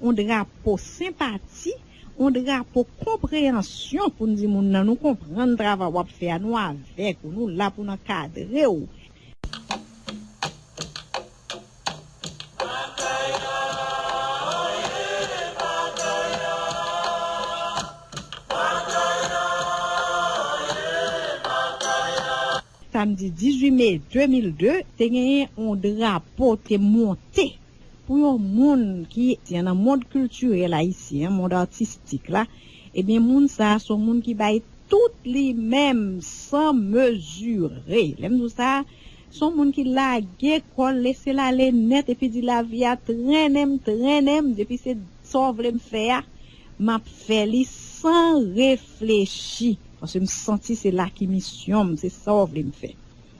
on drapo senpati, on drapo konpreyansyon pou n di moun nan nou konprann travay w ap fè a, nou avèk ou, nou la pou n ankadre w. Samdi 18 me 2002, te genyen on drapo te monte. Pou yon moun ki etyan nan mond kiltirèl ayisyen an, mond atistik la, ebyen moun sa a se yon moun ki bay tout li menm san mezire. Lè m di w sa, se yon moun ki lage kò l, lese l ale nèt epi di lavi a trennen m, trennen m, depi se sa w vle m fè a, m ap fè li san reflechi paske m santi se la ki misyon m, se sa w vle m fè.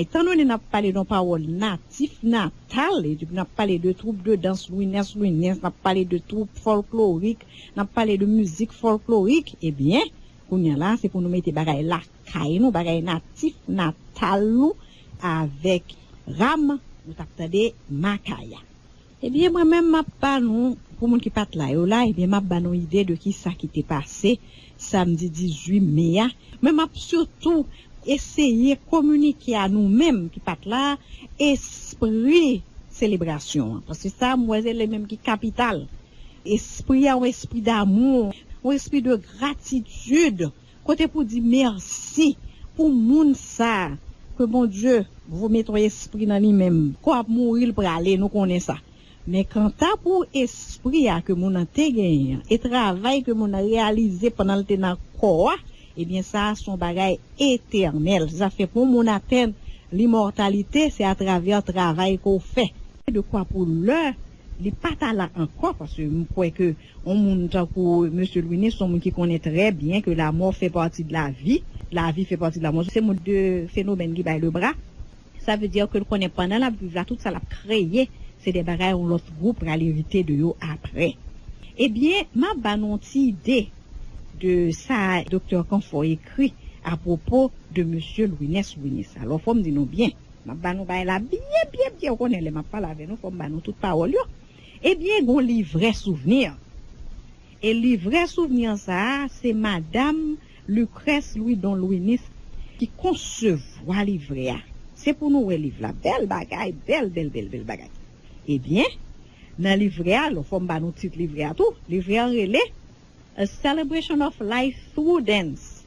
Etandone n ap pale don pawòl natif natal, n ap pale de twoup de dans Louinès Louinens, n ap pale de twoup fòlklorik, n ap pale de mizik fòlklorik, ebyen, kounya la, se pou nou mete bagay lakay nou, bagay natif natal nou avèk ram ou t ap tande Makaya. Ebyen mwen menm map ba nou pou moun ki pat la yo la ebyen map ba nou ide de kisa ki te pase samdi 18 me a men map sitou eseye kominike a nou menm ki pat la espri selebrasyon an paske sa mwen wè se li menm ki kapital espri a yon espri damou yon espri de gratitid. Kote pou di merci pou moun sa ke Bondye vo met on espri nan li menm ko ap mouri li prale nou konnen sa men kanta pou espri a ke moun nan te genyen an e travay ke moun nan reyalize pandan li te nan kò a ebyen sa son bagay etènèl se sa fè pou moun atenn limòtalite se atravè travay ke w fè. Dekwa pou lè Li pa ta la ankò paske m kwè ke yon moun tankou Mesye Louinis son moun ki konnen trè byen ke lamò fè pati de lavi, lavi fè pati de lamò. Se moun de fenomèn ki bay le bra. Sa vle di ke l konnen pandan l ap viv la tout sa l ap kreye se de bagay yon lòt gwoup pral erite de yo aprè. Ebyen m ap ba nou yon ti ide de sa Doktè Kanfò ekri apwopo de Mesye Louinès Louinis. Alò fò m di nou byen. M ap ba nou bagay la byen byen byen. Ou konnen lè m ap pale avè nou fò m ba nou tout pawòl yo. Ebyen gen yon livrè souvni. E livrè souvni an sa a se madam Lucrèce Louidon Louinis ki konsevwa livrè a. Se pou nou wè liv la. Bèl bagay, bèl bèl bèl bèl bagay. Ebyen, nan livrè a, lò fò m ba nou tit livrè a tou. Livrè an rele, A Celebration of Life Through Dance.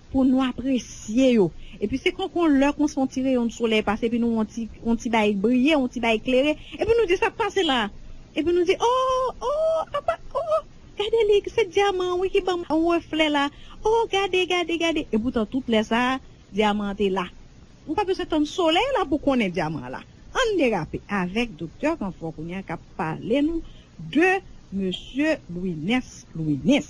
Pou nou apresye yo. Epi se konke yon lè konsa yon ti reyon de solèy pase epi nou wè yon ti yon ti bagay briye, yon ti bagay klere, epi nou di sa k pase la a? Epi nou di, oo, oo, apa, oo, gade li, se dyaman an wi ki banm yon reflè la, oo, gade, gade, gade. Epoutan tout lè sa a, dyaman an te la. Ou pa bezwen tann solèy la pou w konnen dyaman an la. Ann derape avèk Doktè Kanfò kounye a k ap pale nou de Mesye Louinès Louinès.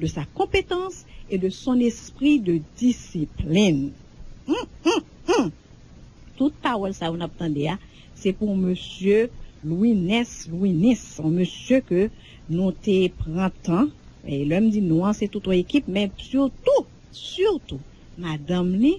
de sa konpetans e de son espri de disiplin hum hum hum tout pawòl sa yo nap tande a se pou yon mesye Louinès Louinis yon mesye ke nou te pran tan e lèm di nou an se tout yon ekip men surtou surtou madanm li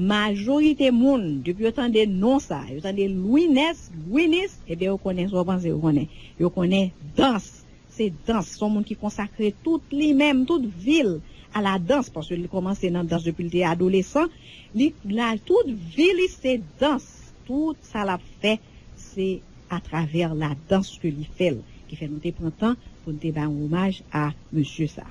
Majorite moun, depi yo tande non sa, yo tande Louinès, Gwinis, eben yo konnen sa w panse yo konnen. Yo konnen dans. Se dans. Se yon moun ki konsakre tout li menm, tout vi l a la dans, paske li kòmanse nan dans depi li te adolesan. Li la tout vi li se dans. Tout sa l ap fè se atravè la dans ke li fè l. Ki fè nou te pran tan pou n te bay yon omaj a mesye sa.